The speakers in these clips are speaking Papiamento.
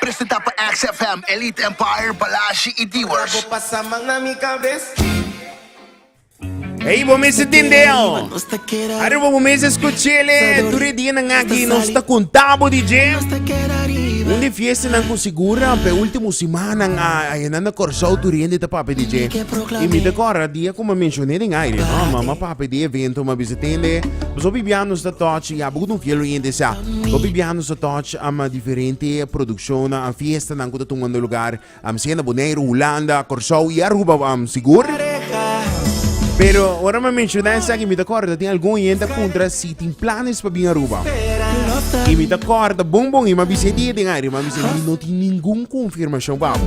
Presenta pa XFM, Elite Empire, Balashi y Diwers. Ey bo mester tende oh. Arriba bo mester escuchele. Tur e día nan aki nos ta conta bo di dje. Un di fiesta nan con segura pe último semana a a nan na Corsou tur hende ta papi di dje. Y mi ta corra día como mencioné den aire no ma ma papi di evento ma bisa tende. Boso bibia nos ta touch ya bo no fiel oyente sa. Bo bibia nos ta touch. Ama diferente produccionnan a fiestanan cu ta tungando lugar amsie na Boneiru, Hulanda, Corsou y Aruba am sigur. Pero ora mi a menciona esaki mi ta corda tin algun hende a puntra si tin planes pa bin Aruba y mi ta corda bon bon y mi a bisa e dia den aire, mi a bisa mi no tin ningun confirmacion pa bo.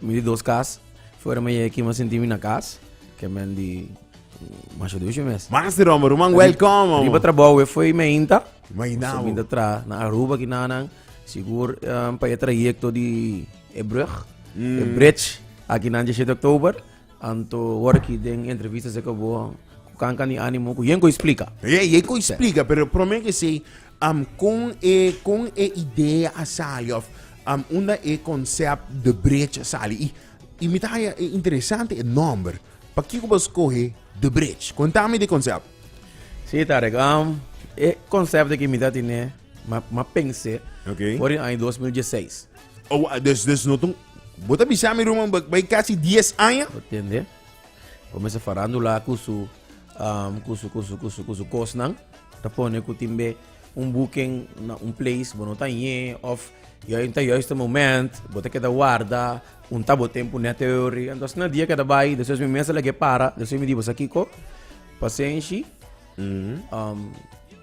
Mi di dos kas, fuera mi yega aki mi a sinti mi na kas, ke men di Masha Dushi mes. Mas di Roma, ruman welkom amo. Riba trabou e foi meinta. Meinta. So meinta tra na Aruba ki nanan, sigur um, pa e trayekto di e brug, e bridge, aki nan 17 oktober. Anto ora ki den entrevista seka bo ku kanka ni animo ku yen ko i splika. Ey, ey ko i splika, pero prome ke sey am kon e kon e idea a sali of am unda e konsèp de brech a sali i i mi ta haya e interesante e nòmber. Pakiko bo a skohe de brech? Konta mi di e konsèp. Si Tarek, am e konsèp de ke mi ta tine ma ma pens'e Okay. for di año dos mil dieseis. Oh, ah, des, des no tun. Bo ta bisa mi ruman, ba- bai casi 10 aña. Bo tende? Comienza farándula cu su, am, cu su, cu su, cu su, cu su cosnan. Ta pone cu timbe un booking na un place, bo no ta ñe, of juist ta juist e moment, bo ta keda warda, punta bo tempu net e ori. Anto asina di a keda bai, despues mi mes a lag'e para, despues mi di bo sa kico? Pasenshi, am,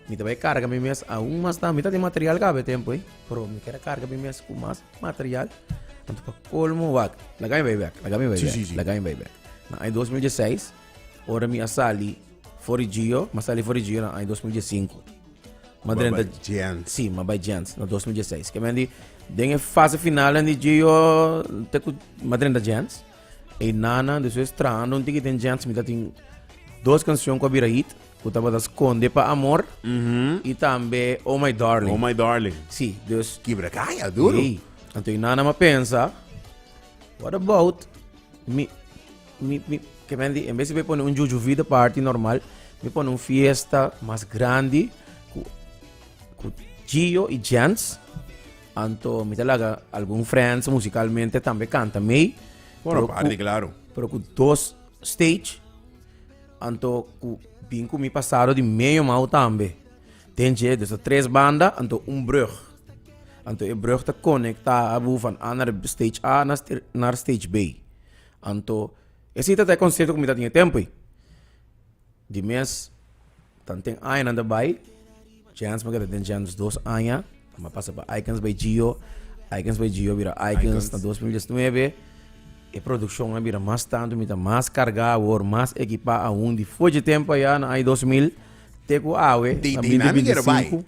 mi ta bai carga mi mes, aun mas ta, mi ta tin material caba e tempu ei. Pero mi keda karga mi mes ku mas material. Anto pa kolmo, wak, laga mi bai bek, laga mi bai bek, laga mi bai bek. Na aña 2016, ora mi a sali for di Gio, mi a sali for di Gio na aña 2015. Mi drenta Giants. Si, mi bai Giants na 2016. Ke men di, den e fase finalnan di Gio, te ku mi drenta Giants. E nana despues trahando un ticket en Jens mi ta tin dos canción cu a bira hit cu tabata Sconde pa Amor Mhm. y tambe Oh My Darling. Oh my darling. Sí, dus Kibracaya, duro. Hey, anto e nana ma pensa, what about mi, mi, mi, que men di, en vez de pone un juju vida party normal, mi pone un fiesta mas grandi cu, cu Gio y Jens. Anto mi ta laga algun friends musicalmente tambe canta mee. Bueno, party claro. Pero cu dos stage, anto cu bin cu mi pasado di medio mau tambe. Den je, dus ta tres banda, anto un brug. Anto e brug ta conecta abu van A naar stage A naar stage B. Anto, e si ta ta e concerto cu mi ta tin e tempo ei. Di mes. Tan ten añanan ta bai. Chance pakiat a ten chance dos aña. Tamá a pasa pa Aikens by Gio. Aikens by Gio bira Aikens na 2019. E produccion a bira mas tantu, mi ta mas carga awor, mas ekipa aun. Di foce tempo aya na aña 2000 te cu awe na 2025. Anto.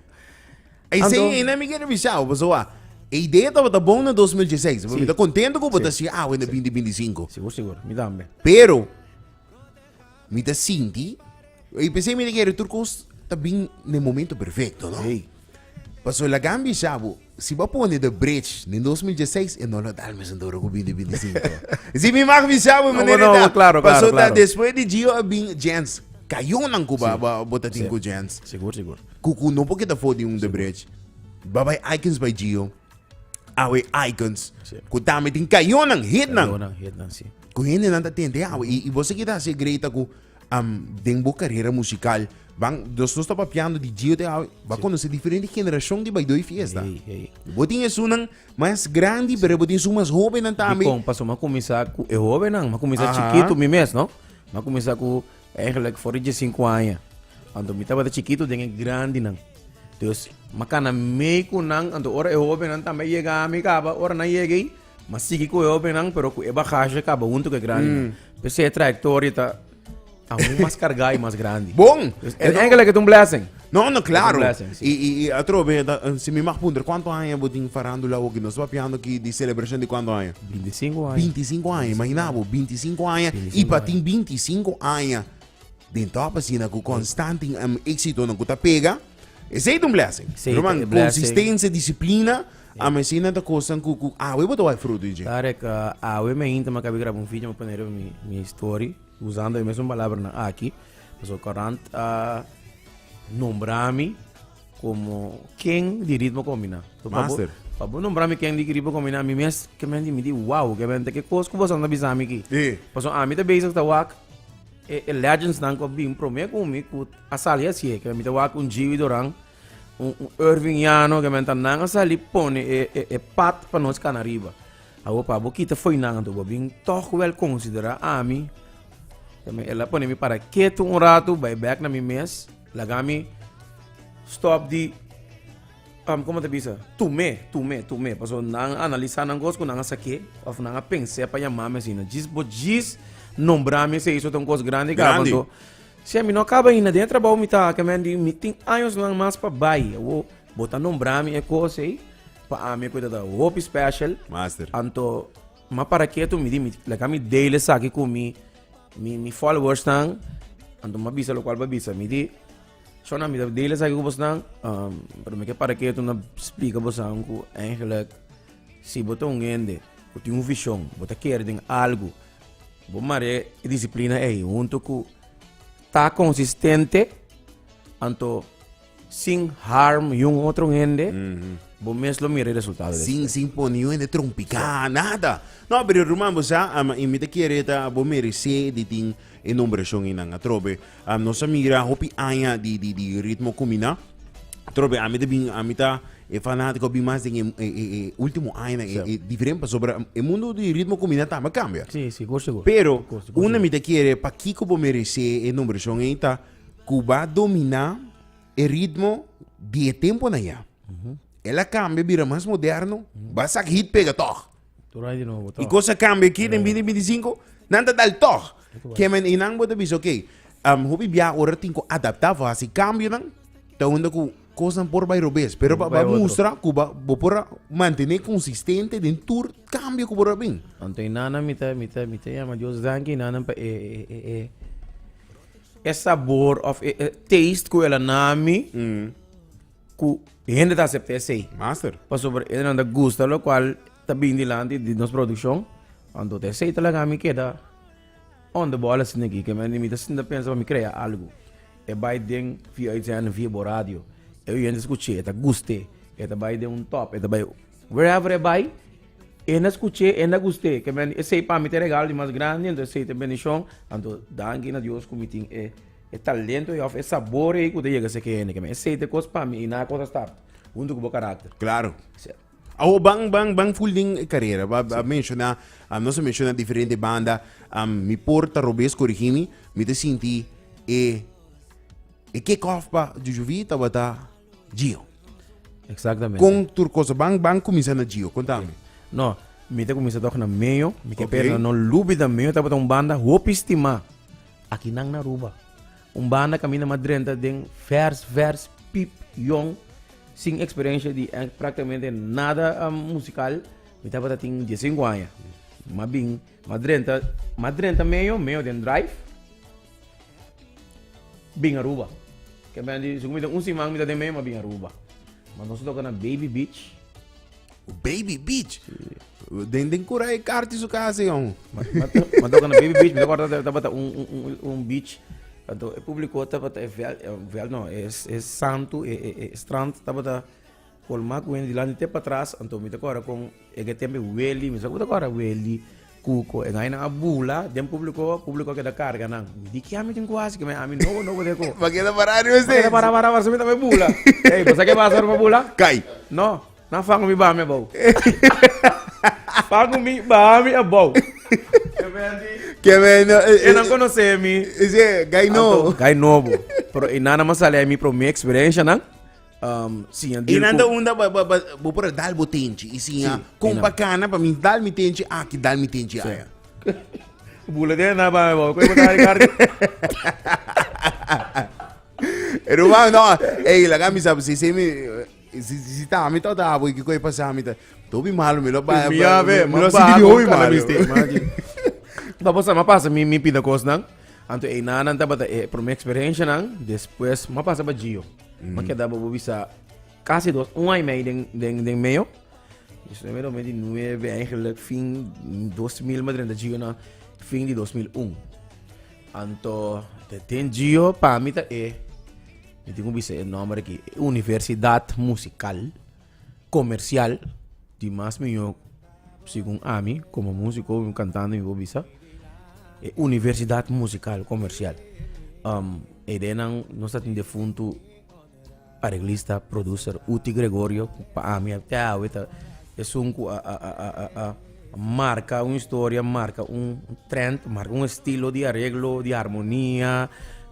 Eisen na mi kier bisa bo, pasobra e idea tabata bon na 2016. Mi ta contento cu bo ta si awe na 2025. Sigur, sigur. Mi tambe. Pero. Mi ta sinti, i p'esei mi ta kere tur kos ta bin na e momento perfekto, no? Ey. Paso la Gambia sa bo, si bo a pone The Bridge den dos mil diesiseis, e no lo dal mes anto ora ku bin di bintisinko. Si mi mag bisa bo e No, bo manera e no, ta, bo klaro, klaro, paso ta klaro. despues di Gio a bin Jens, kayonan ku bo bo bo ta tin ku Jens, Sigur, sigur. ku ku no por keda for di un The Bridge, babay Aikens bay Gio. awe icons sí. ku ta mitin kayonan hitnan kayonan hitnan sí ku hende nan ta tente awe mm. i, i vos kita si greita ku um, den bo carrera musical van dos nos tapa piando di Gio te awe va sí. conocer diferente generación di baidoi fiesta hey, hey. bo tin esunan mas grandi pero bo tin su mas joven nan tambe kon paso ma comienza ku e joven nan ma comienza chiquito mi mes no ma comienza ku Eigenlijk for di dje sinku aña. Anto mi tabata chikitu den e grandinan. Dus mi a kana mee ku nan, anto ora e hobennan tambe a yega ami kaba, ora nan yega ei, mi a sigui ku e hobennan pero ku e bagashi kaba huntu ku e grandinan. P'esei e trayektoria ta aun mas kargá i mas grandi. Bon! Dus eigenlijk et un blessing. No, no, claro. Y, y, y atrobe, si mi mag punter, cuánto años vos tin farándula o que nos va piando aquí de celebración de cuánto años? 25 años. 25 años, imagina vos, 25 años. Y para tin 25 años, de top así, na constante um, éxito, na cuta pega, es un blessing. Roman, consistencia, disciplina. A me si nada cosa cu cu a we botou fruto je. Tarek, a we me inta ma cabe grabo un vídeo me poner mi mi story usando a mesma palabra na aqui. Pasobra Courant a nombra mi como ken di ritmo combina. Master. Pa bo nombra mi ken di ritmo combina, mi mes ke men di mi di wow, ke men te ke kos ku boso anda bisa mi ki. Sí. Pasobra ami te bezig ta wak e, e legends nan ku a bin promé ku mi ku a sali así, ke mi ta wak un Gio y Doran. Un Irving Llano ke menta nan a sali pone e e e pat pa nos kana riba. Awo pa bo kita foi nan anto bo bin toch wel considera ami. Kami el a pone mi para keto un rato bai back na mi mes laga mi stop di um como ta bisa tume tume tume paso nan analisa nan cos ku nan a sake of nan a pense pa yama mi asina djis bo djis nombra mi esei eso ta un cos grandi ka Grandi. paso Sha, mi no a kaba ainda. Den e trabou mi ta aki, mi a di, mi tin añosnan mas pa bai. Awo bo ta nombra mi e kos ei, pa ami e kos ei ta hopi special. Master. Anto, mi a para ketu, mi di, mi laga mi deel esaki ku mi mi followersnan. Anto mi a bisa lokual mi a bisa. Mi di, Shona, mi ta deel esaki ku bosnan, pero mi ke para ketu na splika bosawen ku eigentlik si bo ta un hende ku tin un vishon, bo ta kere den algu. Bo mar'é e disiplina ei huntu ku ta konsistente anto sin harm yun otro hende, bo mes lo mira e resultado des. Sin, sin pone yu hende trompiká, nada. No, pero ruman, bo sa, am, i mi ta kere ta bo meresé di tin e nombrashon einan. Atrobe, am, nos a mira hopi aña di, di, di ritmo kuminá. Atrobe, ami ta bin, ami ta E fanático a bin mas den e último añanan e diferente pasobra e mundo di ritmo kumbina tambe a kambia. Sí, sí, por segur. Pero unda mi ta kere pakiko bo meresé e numberashon ei ta ku bo a dominá e ritmo di e tempunan ya. El a kambia bira mas moderno, bo a sak hit pega tòg. I kos a kambia aki den binti binti sinku, nan ta dal tòg. Kieman ei nan bo ta bisa, ok, hopi biaha ora tin ku adaptá fasi kambionan ta unda ku Kosnan por bai robes, pero pa bai mustra ku bo por a mantené konsistente den tur kambio ku bo ta bin. Anto e nana mi ta mi ta mi ta yama Dios danki e nana pa e e e sabor òf e taste ku el a na mi ku hende ta aseptá esei. Master. Pasobra e nan ta gusta lokual ta bin dilanti di nos produkshon anto esei ta laga mi keda Ondo bo a la sinti aki? Ke men mi ta sinta pensa pa mi krea algu. E bai den via uitzending, via bo radio. E oyente skuché, e ta gust'é. E ta bai den un top, e ta bai wherever e bai, e na skuché, e na gust'é. Ke men, esei pa mi ta e regalo di mas grandi, anto esei ta e bendishon. Anto danki na Dios ku mi tin e talento ei òf e sabor ei ku ta yega seki hende. Ke men, esei ta e kos pa mi i nan e kos a stap huntu ku bo karakter. Klaro. Awo ban ban ban full den e carera. Ba, ba menciona, um, nos a menciona diferente banda. Um, mi por ta robes corrigi mi, mi te sinti e e kick-off pa Jujuvi tabata Gio. Exactamente. Con tur cosa ban ban comienza na Gio, contame. No, mi te comienza toch na Meo, mi te Ok. pera na no Lubida. Meo tabata un banda hopi stima. Aki nan na Aruba. Un banda ka mina ma drenta den vers, vers, pip, yong, sin experiencia di eh, prácticamente nada um, musical. Mi tabata tin 15 aña. Ma bin, ma drenta, ma drenta medio, medio den drive. Bin Aruba. Ke ben di, según mi ta un siman mi ta den medio, ma bin Aruba. Ma nos a toca na Baby Beach. Baby Beach. Den den cura e carti su casa yon. Mas toca na Baby Beach, me acorda dat tabata un, un, un, un beach. Tanto e público tabata e vel, e vel no, e, e santo, e, e, e strand tabata colma cu hende dilanti te patras. Anto mi ta acorda con e ke tempo e Welly, mi sa cu ta acorda Welly. Cuco, e gainan a bula den publico, publico a keda carga nan. Mi di kia mi tin cu haci, keme ami no no bodeko. Bo a keda para ariba esey. Bo a keda para para pasobra mi ta bay bula. Ey, bo sa ke pasa ora bo bula? Cay. No, nan fango mi bami abao. Fango mi bami abao. Keme a di. Keme no. E nan conoce mi. Ese, gai nobo. Gai nobo. Pero e nana mas sali ay mi prome experiencia nan. Um, siña dil Inanda ku- unda ba, ba, ba, bo por dal bo tenchi. Y si ya, Sí, con inanda. bacana, pa mi dal mi tenchi aquí, dal mi tenchi Sí. allá. Bula de na ba ba ko ta Ricardo. Ruba, no, ey, la gami sabe, si, si, mi, si, si, si, ta, mi, ta, ta, boy, que coi pasa, mi, ta, to bi malo, mi lo ba, Mi ya ve, mi man lo ba sigi di hoy con malo. canabiste, man, aquí. Da bosa ma pasa mi mi pida cos nan. Anto e nanan tabata e primer experiencia nan, después ma pasa pa Gio. Mm. Ma keda bobo bisa casi dos, un año mee den, den, den medio. Dus numero met die 9 eigenlijk fin 2000 met renta Gio na fin di 2001. Anto te ten Gio pa mi ta e mi tin bisa e nombre ki Universidad Musical. comercial di mas miyor segun ami como musico y un cantante mi por bisa e universidad musical comercial e de nan nos ta tin defuntu areglista producer uti gregorio pa ami te awe ta esun cu a marca un historia marca un trend marca un estilo di areglo di harmonia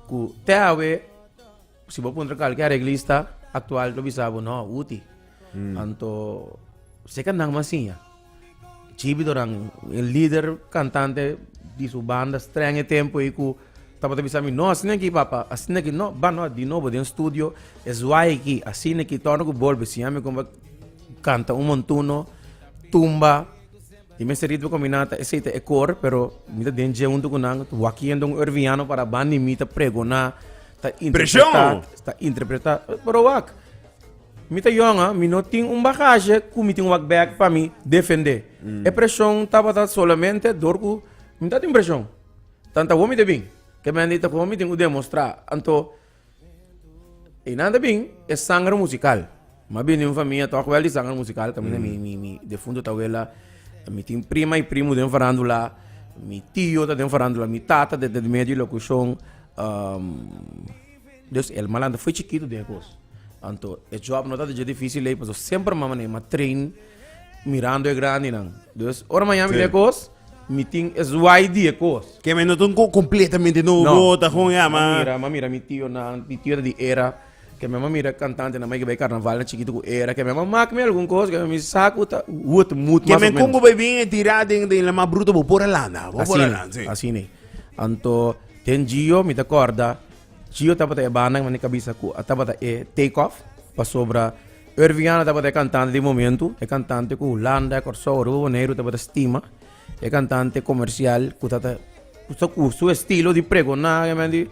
cu te awe. Si bo puntra kalke areglista aktual lo bisa bo no, uti. Anto seka nan mas siña. Chibi doran, e lider kantante di su banda streng e tempo ei ku tabata bisa mi no, asina ki papa, asina ki no, ba no di nobo den studio, e zwai ki, asina ki, torna ku bolbe siña mi kuma kanta un montuno, tumba. E mester rit bo ku mi nan ta esei ta e kor pero mi ta den dje huntu ku nan wak yendo un urbiano para ban di mi ta pregoná ta interpretá ta interpretá pero wak mi ta yòn a mi no tin un bagashe ku mi tin wak bèk pa mi defendé e preshon tabata solamente dor ku mi no tin preshon tan ta wou mi ta bin kemen di ta kon mi tin ku demostrá anto. Y nan ta bin e sangre musical. Mi a bini un famia tok wel di sangre musical, caminda mi, mi, mi defunto tawela, mi tin prima y primo den farandula, mi tio ta den farandula, mi tata ta den medio di locucion. dus el malantra foi chikito den e cos. Anto e job no tabata dje dificil lei, pasobra semper mama na e mama train mirando e grandinan. Dus ora mi a yami den e cos, Mi tin es wai di e kos. Ke men no ta un kos kompletamente nobo, ta kon ya, ma. M'a mira, m'a mira mi tionan, mi tionan di era, ke men m'a mira kantantenan mei ke bai karnaval na chikitu ku era, ke men m'a mak mi algun kos ke mi sa ku ta wut mut mas òf menos. Ke men kon ku bai bin e tira den den la mas bruto bo por a landa, bo por a landa, si. Asina, asina. Anto den Gio mi ta kòrda, Gio tabata e banda mane kabisa ku a tabata e Take Off, pasobra Irving Hanna tabata e kantante di momentu, e kantante ku Hulanda, Kòrsou, Aruba, Boneiru tabata stima, e kantante komersial ku ta ta ku su estilo di pregoná i mandi.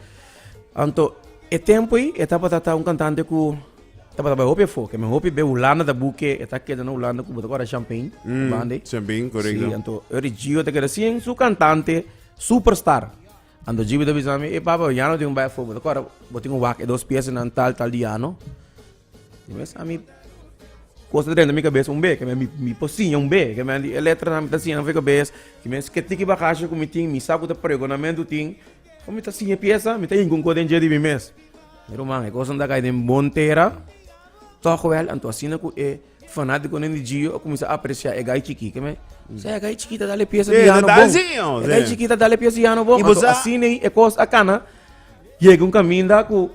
Anto e tempu ei e tabata ta un kantante ku tabata bai hopi enfoke, mi hopi be Hulanda ta buke e ta keda na Hulanda ku bo ta kòrda Champain banda ei. Champain, korekto. Si, anto ora di Gio ta keda sin su kantante superstar. Anto Gio ta bisa mi, ey pape, bo ya no tin ku bai afuer, bo ta kòrda bo tin ku wak e dos piese nan tal tal di anu? Mi a sa mi cosa drenta mi cabeza un be mi mi por siña un be ke mi e letra nan mi ta siña nan for e cabes ke mi a esque tiki bagashi ku mi tin mi sa ku ta pregonamento tin o mi ta siña piesa mi ta yinga un ko den dje di mi mes mi ruman e cosa nan a kai den bon tera tog wel anto asina ku e fanatikonan di gio a cuminsa aprecia e gai chiki ke mi se e gai chiki ta dal e piesa di ano bon e gai chiki ta dal e piesa di ano bon anto asina e cosa a kana yega un caminda ku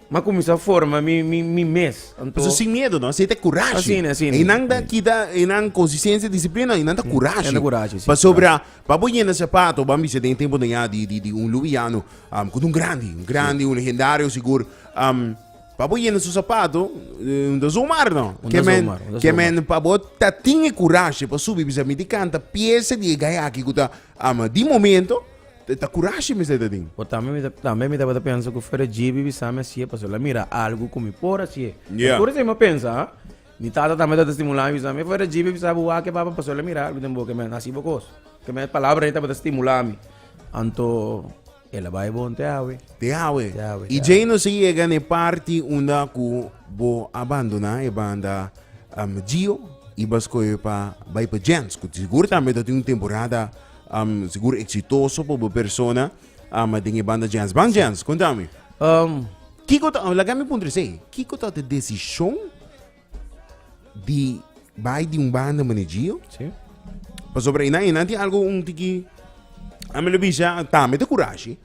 M'a kuminsá forma mi, mi, mi mes. Anto. Pasobra sin miedu, no? Esei ta kurashi. Asina, asina. E nan ta kita e nan konsistensia i disiplina, e nan ta kurashi. E nan ta kurashi, si. Pasobra pa bo yenda sapato, bo a bisa den e tempunan ya di, di, di un luwiano, am, ku ta un grandi, un grandi, un legendario sigur. Am, pa bo yenda su sapato, eh, un ta zomar, no? Un ta Ke men, zomar, un ta ke zomar. men pa bo ta tin e kurashi pa subi bisa mi di kanta piese di e gay aki ku ta, am, di momento, E ta kurashi mester ta tin. O tambe mi ta tambe mi tabata pensa ku fuera JB bisami hasié pasobra el a mira algu ku mi por hasié. E Ya. tur esei mi a pensa, ha. Mi tata tambe tabata stimulami bisami, e fuera JB bisami bo wak ke papa pasobra el a mira algu den bo ke men hasi bo kos. Ke men palabra rei tabata stimulami. Anto el a bai bon te awe. Te awe. Te awe, I te djei awe. nos a yega na e parti unda ku bo a bandona e banda am Gio i bo a skohe pa bai pa Jens, ku di sigur tambe ta tin un temporada Um, sigur exitoso por bo persona. Um, den e banda Jens. Ban Jens, contame. Um, Kiko ta, laga mi puntre se, Kiko ta te decision di bai di un banda mane Gio? Sí. Pasobra e nan, e nan tin algo un tiki, a mi lo bisa, ta me te courage.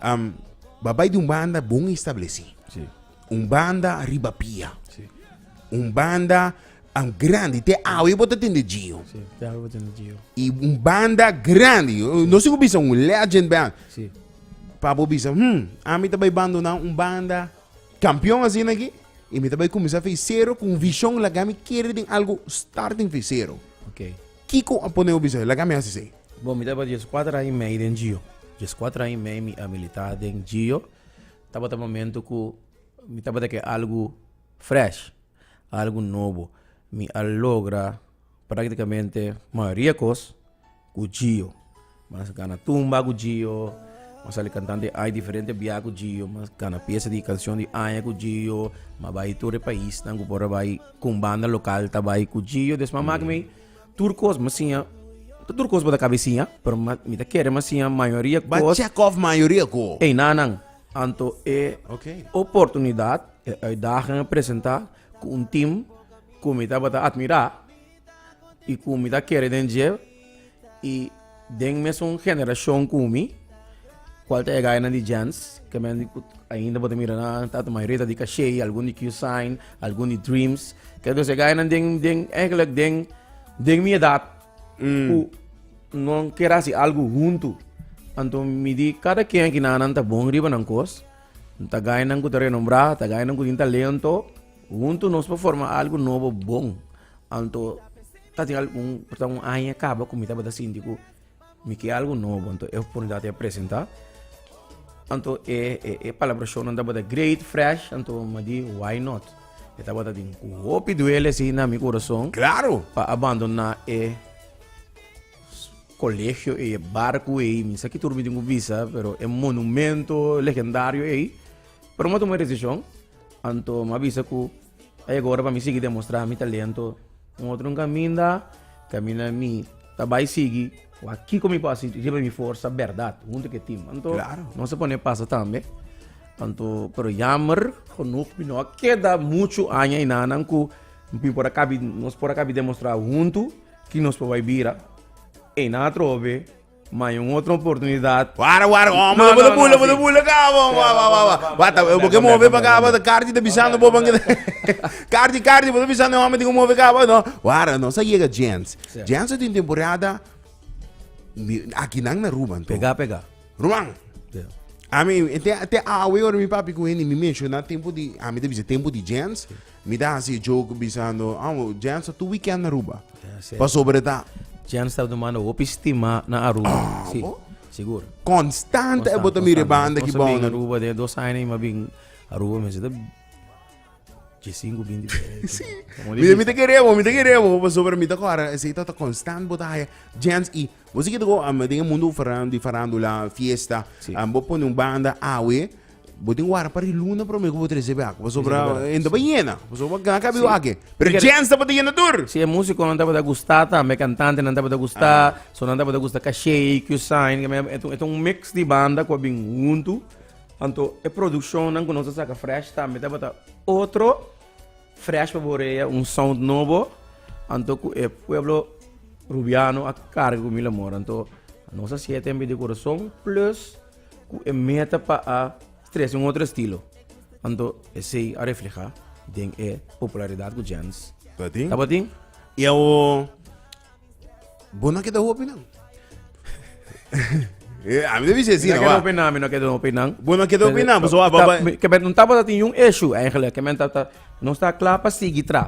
Um, ba bai di un banda bon estableci. Sí. un banda riba pia, un banda grandi, te awe bo ta tende Gio, y un banda grandi, no si ku bisa un legend band, pa bo bisa hum ami ta bai bandona un banda kampion asina aki y mi ta bai kuminsá fi sero ku un vishon laga mi kere den algu starting fi sero, kiko a pone bo bisa laga mi hasi esei? Bo mi tabata dies kuater aña i mei den Gio, dies kuater aña i mei mi a militá den Gio, Tabata momento ku mi tabata ke algu fresh, algu nobo. Mi a logra praktikamente mayoria kos ku Gio. Mas gana tumba ku Gio, mas sali kantante di aña diferente bia ku Gio, mas gana piese di kanshon di aña ku Gio, mas bai tur e paisnan ku por a bai ku un banda lokal ta bai ku Gio. Des mama ku mi. Tur cos mi siña, no tur cos bo ta cabe siña, pero mi ta kere mi a siña mayoria cos. Bo a check off mayoria cos. Ey nanan, anto e oportunidad, e uitdaging a presenta cu un team cu mi tabata admira y cu mi ta kere den dje. Den mesun generashon ku mi, kual ta e gainan di Jens, ke men ku ainda bo ta mira nan, ta mayoria ta di Kashé, algun di Q-Sign, algun di Dreams. Ke entonces e gainan den, den, eigenlijk den, den mi edat, ku non kier hasi algu huntu. Anto mi di kada ken aki nan, nan ta bon riba nan kos. Ta gainan ku ta renombrá, ta gainan ku tin talento. Huntu nos por forma algu nobo bon. Anto tatin algun porta un aña kaba ku mi tabata sinti ku mi ke algu nobo anto e oportunidat a presenta anto e e palabrashonnan tabata great fresh anto mi a di why not e tabata tin ku hopi duele si na mi kurason Claro! pa abandoná e kolegio ei e barku ei mi sa ki tur mi tin ku bisa pero e monumento legendario ei pero mi a tuma e desishon anto mi a bisa ku A yega ora pa mi sigui demostrá mi talento un otro un caminda caminda mi ta bai sigui wak kico mi por haci riba di mi forsa berdad hunto cu e team anto no se pone pasa tambe anto pero yamber genoeg mi no a keda mucho aña enanan cu mi por a cabi nos por a cabi demostrá hunto ki nos por bai bira enan atrobe. Ma i un otro oportunidat. Wara wara oh molo bo ta bula bo ta bula ka bo wa wa wa wa ta bo ke move pa ka bo ta karchi ta bisando bo pan keda karchi karchi bo ta bisando e home tin ku move ka bo no wara nos a yega Jens Jens a tin temporada aki nan na Ruban tu pega pega Ruban ami te te awe ora mi papi ku hende mi menshonan tempu di ami ta bisa tempu di Jens Mi ta hasi e joke bisando, Amo, Jens ta tur weekend na Aruba. Pasobra e ta. Jens ta duna mano hopi stima na Aruba. Si, Amo? sigur. Constante e bo ta mira e banda ki Nos a bin bounan. Aruba den dos aña i mi a bin Aruba mester ta djisinku binti por ahi. Si. Como Mi, mi difícil. ta kere bo, mi ta kere bo, pasobra mi ta kora esei ta ta constant bo ta haya. Jens, i bo si kita go, am, den e mundo faran, di farandula, fiesta, Si. am, bo pone un banda awe, Bo tin wara pa riluna prome ku bo trese be akwa, pasobra en ta ba yena, pasobra gan kabi Sí. wake. Pero Tikere- Jens tabata yena tur. Si e musikonan tabata gusta tambe, e kantantenan tabata gusta, so nan tabata gusta Caché, Q-Sign, ke men- e ta- e ta un mix di banda ku a bin huntu. Anto e produkshonnan ku nos a saka fresh tambe tabata otro, fresh pa bo orea, un sound nobo. Anto ku e pueblo Rubiano a karga ku mi la mora. Anto nos a siete den korason, plus ku e meta pa a stresa un otro estilo, anto esei a reflehá den e popularidat ku Jens Tabatin? tabatin. I awo bo no a keda hopi nan. Eh, ami ta bisa e Mi no asina, keda wa. hopi nan, mi no keda hopi nan. Bo no a keda hopi nan, pasobra a Ta- baba. mi- ke men- Tabata tin un issue, eigenlijk, ke men ta, ta, nos ta kla pa sigui tra.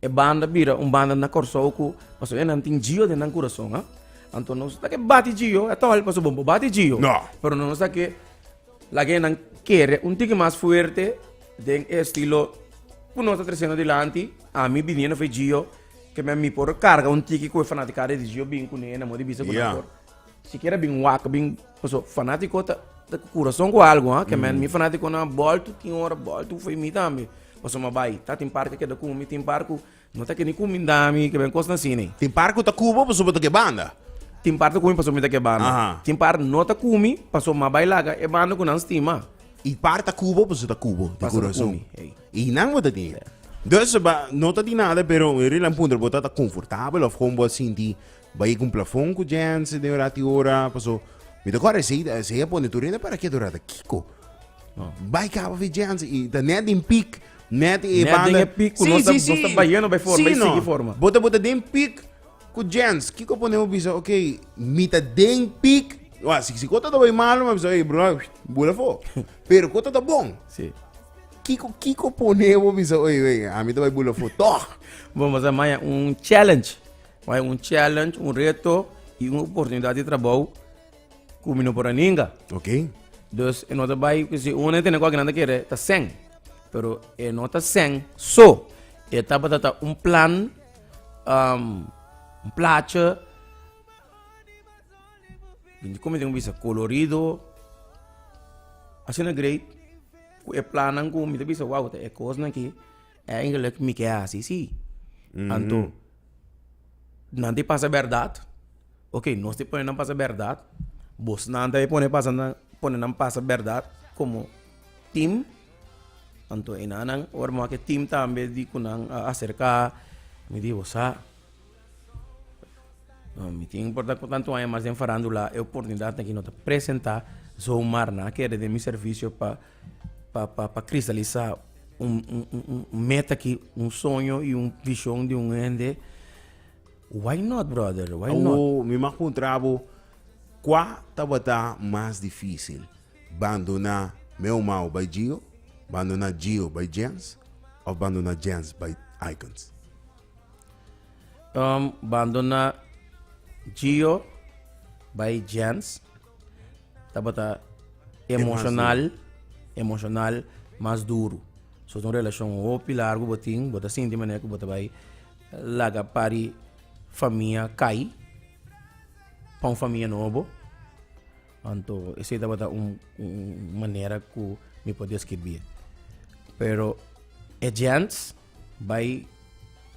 E banda bira un banda na Kòrsou ku pasobra e nan tin Gio den nan kurason. Anto nos ta ke bati Gio, e ta hòl pasobra bo bati Gio. Pero nos ta ke laga e nan kere un tiki mas fuerte den e estilo ku nos ta tresendo dilanti. Ami biniendo for di Gio, ke mi por karga un tiki ku e fanatikanan di Gio bin kune na mudibisa ku nan por. Sikiera bin wak bin paso fanatiko ta ta ku kurason ku algu ha ke men mi fanatikonan bòltu tin ora bòltu for di mi tambe paso mi a bai ta tin par ke keda ku mi tin par ku no ta keni ku mi nda mi ke ben kosnan asina Tin par ku ta ku bo paso bo ta ke banda. tin par ta ku mi paso mi ta ke banda Aha. tin par no ta ku mi paso mi a bai laga e banda ku nan stima I par ta ku bo paso ta ku bo di Paso ta ku kurason mi, ei. i nan bo ta tin. Dus ba no ta di nada pero un relat puntra bo ta ta konfortabel of kon bo a sinti Bai e kumplafon ku Jens den orat i ora, paso mi ta kòrda esei esei a pone tur hende para kiet orat. Kiko? Bai kaba fi Jens i ta nèt den pik, nèt e Net banda. den e pik ku nos ta- nos ta bayendo bai forma, bai sigui forma. Bo ta bo ta den pik ku Jens. Kiko pone bo bisa, ok, mi ta den pik, wak si si kota ta bai malu mi a bisa, ey bròda, bul afó. Pero kota ta bon, Sí. kiko kiko pone bo bisa, oye, oye, ami ta bai bul afó tòg. Bo mester maya un challenge. Mas e un challenge, un reto y un oportunidad di trabou cu mi no por a ninga. Ok. Dus e no ta bay, si un a tene cu aki nan ta kere ta seng. Pero e no ta seng so. E tabata ta un plan, um, un plaatje, como tin cu bisa, colorido, asina great, cu e plannan cu mi ta bisa, wow, ta e cosnan aki, eigenlijk mi ke a hasi si. Anto. nan tin pasa berdad, ok, nos tin pone nan pasa berdad, bosnan ta e pone pasa nan, pone nan pasa berdad como team, anto e nannan ora bo a maké team tambe di ku nan a acerca, mi di bo sa, no mi tin por ta ku tantu aña mas den farandula e oportunidad aki no ta presenta zomaar nan a kere den mi servicio pa pa kristalisa un meta ki un soño i un vishon di un hende why not brother why not. Awo mi m'a puntra bo kua tabata mas difisil bandona meu mao bai Gio bandona Gio bai Jens of bandona Jens bai Aikens. Bandona Gio bai Jens. tabata emocional emocional mas duru so un relacion hopi largu bo tin bo ta sinti manera ku bo ta bai laga pari famia kai pa un famia nobo anto esei tabata un manera ku mi por deskribie pero e djents bai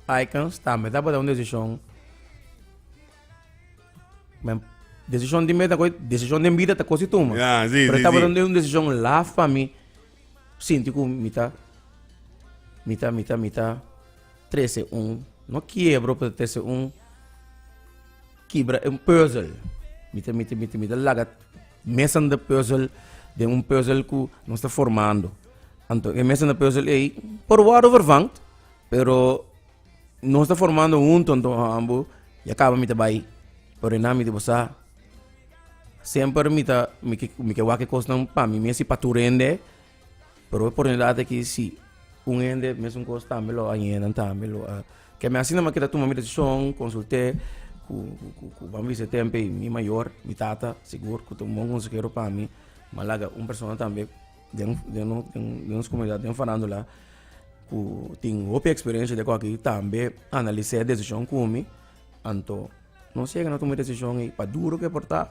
aikens tambe tabata un desishon. Men decision di meta coi decision den vida ta cosi tuma. Yeah, sí, Pero sí, estaba sí. dando un decision laf pa mi. Sinti cu mita, mita, mita, mita, trece un, no quiebro, pero trece un, kibra un puzzle. Mita, mita, mita, mita laga mesan de puzzle, de un puzzle cu no está formando. Anto e mesan de puzzle ei, por wado vervangt, pero Nos ta formando hunto antoha ambo ya kaba mi ta bai orená mi di bo sa semper mi ta mi ke mi ke wak e kosnan pa mi mes i pa tur hende pero e oportunidat aki si un hende e mesun kos tambe lo a yenan tambe lo a ke mi asina mi a keda tuma mi desishon konsult'é ku ku ku ban bisa tempe mi mayor mi tata sigur ku ta un bon konsehero pa mi m'a laga un persona tambe. Den den no den nos comunidad den farándula cu tin hopi experiencia di akoki tambe analisé e decision cu mi anto no sega na tuma e decision ei pa duro ke por ta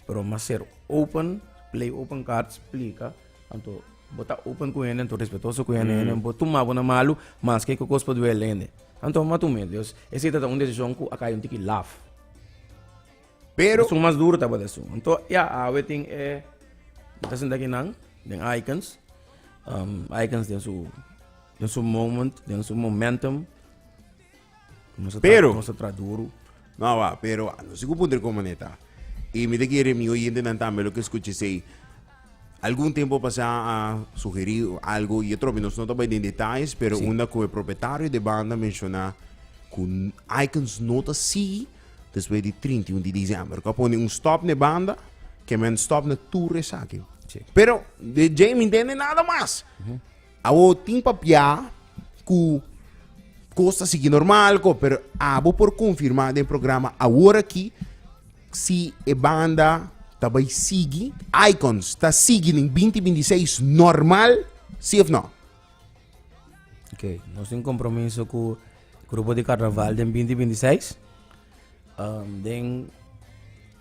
pero mas ser open play open card splica anto bo ta open cu hende anto respetoso cu hende hende bo tuma bo na malu maske ku cos por duele hende anto bo ma tuma e decision cu a kai un tiki laf. Pero. Esun mas duro tabata esun. Anto ya awe tin e mi ta sinta aki nan den Aikens. Um Aikens den su den su moment, den su momentum. Nos a tra Pero. nos a tra duro. No, wa, pero no si ku puntra kon mané ta. I mi ta kere mi oyentenan tambe lo ke skucha esei. Algun tempo pasá a sugerí algo i e tropi nos no ta bai den detais, pero Sí. unda ku e propietario de banda menshoná ku n- Icons no ta sigui despues di 31 di diciember. Ku a pone un stop n'e banda, ke men stop na tur esaki. Sí. Pero de Djei mi ntende nada mas. Abo tin pa pia ku kos ta sigui normal ko, pero abo por konfirmá den programa awor aki si e banda ta bai sigui. Icons ta sigui den binti binti seis normal, si òf nò? Ok, nos tin kompromiso ku grupo di karnaval den binti binti seis. Den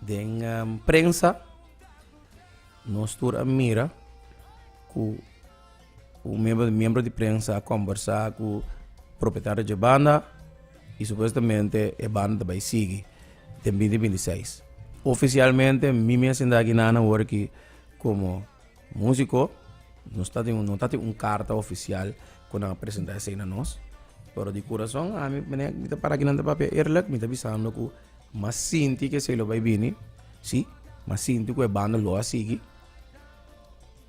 den prensa nos tur a mira ku. Un miembro di prensa a kombersá ku propetario dje banda i supuestamente e banda ta bai sigui den binti binti seis ofisialmente mi mes inda ginan awor aki komo musiko nos ta tin no ta tin un karta ofisial ku nan a presentá esei na nos pero di kurason ami mene mi ta para aki nan ta papia eerlik mi ta bisando ku m'a sinti ku esei lo bai bini si m'a sinti ku e banda lo a sigui.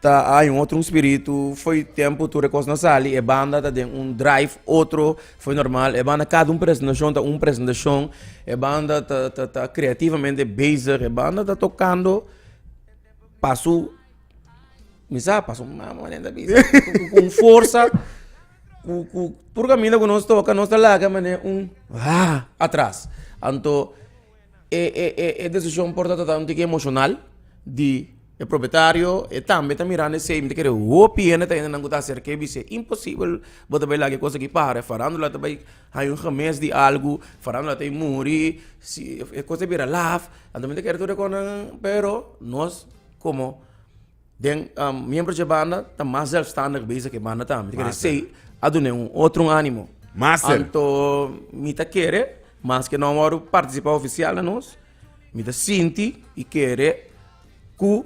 ta hay un otro spiritu fo'i tempo tur e cos na sali e banda ta den un drive otro fo'i normal e banda cada un presentacion ta un presentacion e banda ta ta ta creativamente bezig e banda ta tocando pa su mi sa pa su mama nen ta bisa con forsa cu cu tur caminda cu nos toca nos ta laga mane un haa atras anto. E decision por tabata un tique emocional di e propietario e tambe ta mirando esey mi ta kere hopi hende ta hende nan cu ta acerca y bisey imposibel bo ta bay laga e cosa aki para e farandula ta bay hay un gemes di algo farandula ta muri si e cosa a bira laf anto mi ta kere tur e cosa nan pero nos como Den miembro dje banda ta mas zelfstandig beza ke banda tambe. Di kere Mas, sei a dun'é un otro un ánimo. Master. Anto mi ta kere, maske no a wòrdu partisipá ofisial na nos, mi ta sinti i kere ku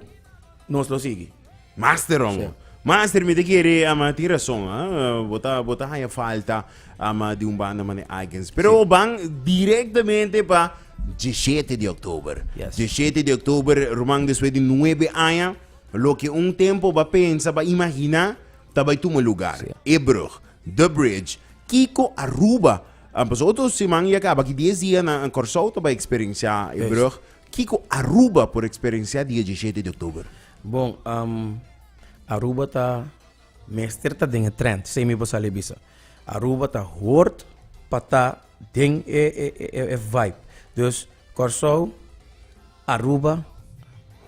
nos lo sigui. Master, homo. Master, mi ta kere, ama, tin rason, ha? Bo ta, bo ta haña falta. Ama di un banda mane Icons. Pero ban directamente pa diecisiete di oktober. Yes. Diecisiete di oktober, ruman, despues di nuebe aña, loke un tempo ba pensa, ba imagina, ta bai tuma lugar. Sí. Ebrug, The Bridge, Kiko, Aruba. Ah, Pas otro seman y a caba aki dies dia na Corsou ta bai experiencia Ebrug. Kiko, Aruba por experiencia dia diecisiete di oktober. Bon, am, Aruba ta Mester ta den e trend, sey mi bo sali a bisa. Aruba ta hoort pa ta den e vibe. Dus Kòrsou, Aruba,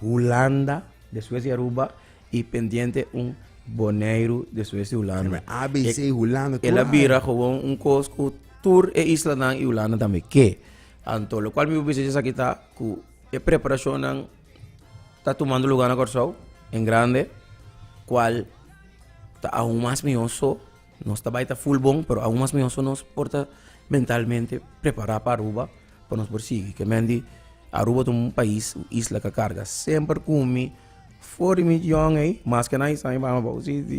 Hulanda despues di Aruba i pendiente un Boneiru despues di Hulanda. Seme ABC i Hulanda tur. El a bira gewoon un kos ku tur e islanan i Hulanda tambe ke. Anto lokual mi bo bisa esaki ta ku e preparashonnan ta tumando lugar na Kòrsou en grande kual ta aun mas mihó so nos ta bai ta full bon pero aun mas mihó so nos por ta mentalmente prepará pa Aruba pa nos por sigui ke men di Aruba ta un pais un isla ku a karga semper ku mi for di mi yòn ei maske nan i sa mi mama bou si si.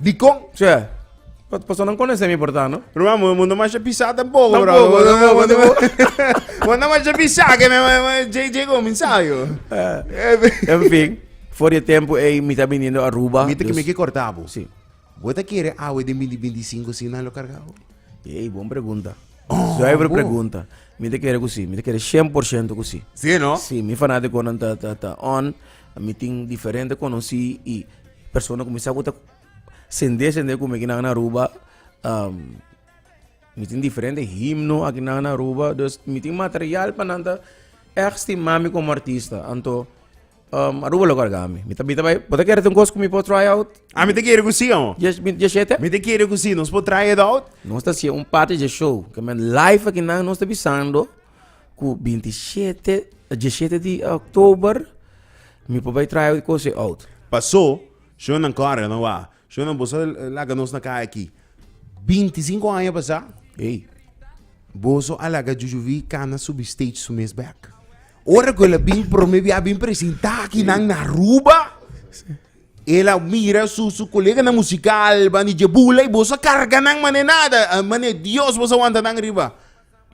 Dikon? Tjè, pa pasonan konesé mi por ta, no? Ruman, bo mundo masha pisá ta bobo, Ta brother. bobo, ta bobo, ta bobo. Bo anda masha pisá, ke me me- me- JJ go minsá, yo. En fin, for di e tempu ei mi ta biniendo Aruba. Mita ke dus- mi ke kortá bo. Sí. Bo ta kere awe den binti binti i sinku si nan lo kargá bo? Ei, bon pregunta. Zuiver bo. pregunta. Mi ta kere ku sí, mi ta kere shen por shento ku sí. Si, no? Sí, mi fanátikonan ta, ta, ta on. Mi tin diferente konosí i Persona ku mi sa ku ta sende sende ku mi aki nan na Aruba mi tin diferente himno aki nan na Aruba dus mi tin material pa nan ta ègt stima mi komo artista anto Aruba lo karga mi. Mi ta bira bai bo ta kere tin kos ku mi por try out? Ami ta kere ku si ho. Yes mi yes e te? Mi ta kere ku si nos por try it out? Nos ta hasié un parti di e show, ke men live aki nan nos ta bisando. ku binti shete dishete di oktober mi por bai traha e kos e oud. Pasó, shonannan kòrga no waha. Shonannan boso a laga nos na kaya aki. Binti sinku aña pasá Ey. boso a laga jujuví kana subi stage su mes bèk. Ora ku el a bin promé bia a bin presentá aki nan na Aruba, el a mira su su koleganan musikal, bandi dje bula i boso a karga nan mané nada, mané dios boso a wanta nan riba.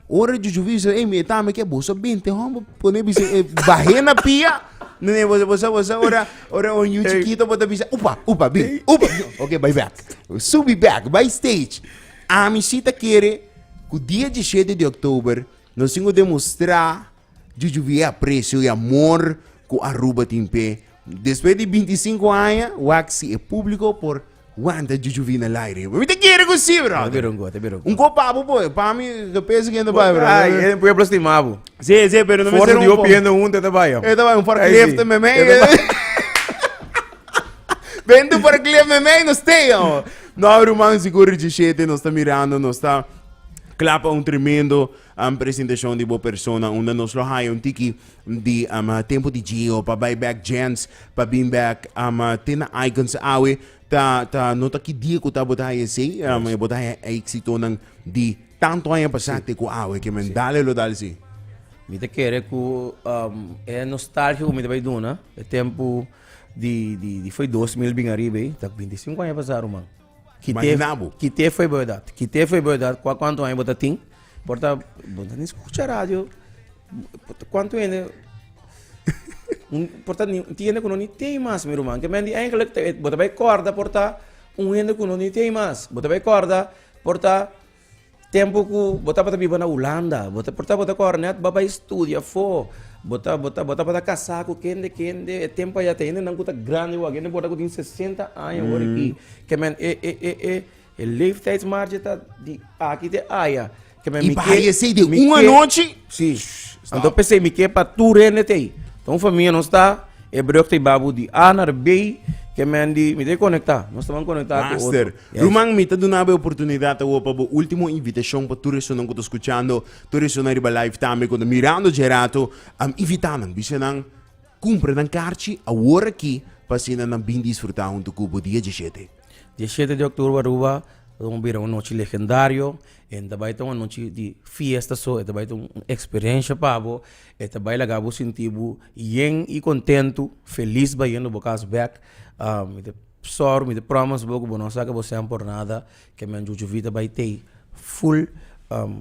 Ora e chuchu bisa, ey, mi e tami ke bo sa binte hon, bo pone bisa e bah'é na pia, nene bo bo sa bo sa ora ora un yu chikito bo ta bisa upa upa bin upa bin oke bai bèk, subi bèk bai stage, ami si ta kere ku dia diesshete di òktober nos tin ku demostrá chuchu via e aprecio i amor ku Aruba tin p'e despues di binti sinku aña wak si e públiko por Wanta e juju vina lai riba. Mi ta kere ku si, brother. Ta bira un go, ta bira un go. Un ko pa bo poi. Pa mi, ta pesa kende bai, brother. Ai, e pueblo stima bo. Si, si, pero no mester un po. Forsa di hopi hende hunta e ta bai, hombre. E ta bai, un forklift ta meme. E ta bai. Bende un forklift meme, nos stay, hombre. No, ruman, si ku Richie Shete nos ta mirando, nos ta klapa un tremendo. Am presentacion di bo persona unda nos lo haya un tiki di am tempo di jeo pa bay bek djens pa bin bek am te na icons awe ta ta no ta ki dia ku ta bo ta haya esey am e bo ta haya exitonan di tanto aña pasa te ku awe ke men dale lo dal si. Mi ta kere ku am e nostalgia ku mi ta bay duna e tempo di di di foi dos mil bin ariba ey ta binti sinku aña pasa ruman. Kite fue berdad? Kite fue berdad? Kua kuantu aña bo ta tin? Por ta bo no ni skucha radio kuantu hende por ta tin hende ku no ni tin mas mi ruman ke men di engelek bo ta bai kòrda por ta un hende ku no ni tin mas bo ta bai kòrda por ta. Tempu ku bo tabata biba na Hulanda, bo ta porta bo ta kore nèt bai studia afó. Bo ta bo ta bo tabata kasá ku kende kende. E tempu ayá ta hendenan ku ta grandi wak, hende por ta ku tin sesenta aña awor aki. Ke men e e e e e leeftijdsmarge ta di aki te aya. Ke men mi ke I baha esei den un anochi? Si. Anto p'esei mi ke pa tur hende t'ei. Ta un famia nos ta e bròk t'ei babu di A na R, B, ke men di mi ta e konektá. Nos tabatin konektá ku otro. Ruman, mi ta duna bo e oportunidad awo pa bo ultimo invitacion pa tur esunnan cu ta scuchando, tur esunnan riba live tambe cu ta mirando dje rato, am invita nan, bisa nan cumpra nan carchi awor aki pa asina nan bin disfruta hunto cu bo dia diecisiete. Diecisiete di octuber Aruba ta don bira un nochi legendario, e no ta bay ta un anochi di fiesta so, e ta bay ta un experiencia pa bo, e ta bay laga bo sinti bo yen y contento, feliz bayen lo bo cas bek. Sorry mi ta promes bo ku bo no sa ke bo sean por nada ke men Chucho Vita bai tei full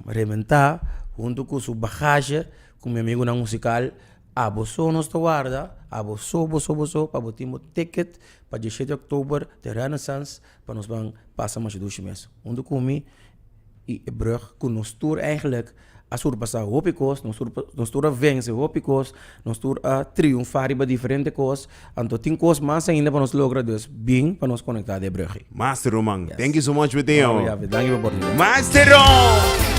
rementá huntu ku su bagasje ku mi amigunan musikal aboso nos ta warda aboso boso boso pa bo tin bo ticket pa dieshete october te Renaissance pa nos ban pasa masha dushi mes huntu ku mi i e brug ku nos tur eigenlijk. a surpasá hopi kos, nos tur nos tur a vense hopi kos, nos tur a triunfá riba diferente kos. Anto tin kos mas ainda pa nos logra, dus bin pa nos konektá den Brugge. Master Roman, Yes. thank you so much Mateo. Ora ya, danki pa oportunidad. Master Rom!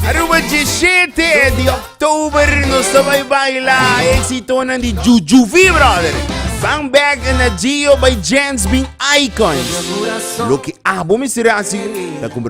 Aruba djishete di oktober nos ta bai baila exitonan di Jujuvee brother. Bang Bag en Agio by Jens bin Icons. Loke abo mi sera si ta compra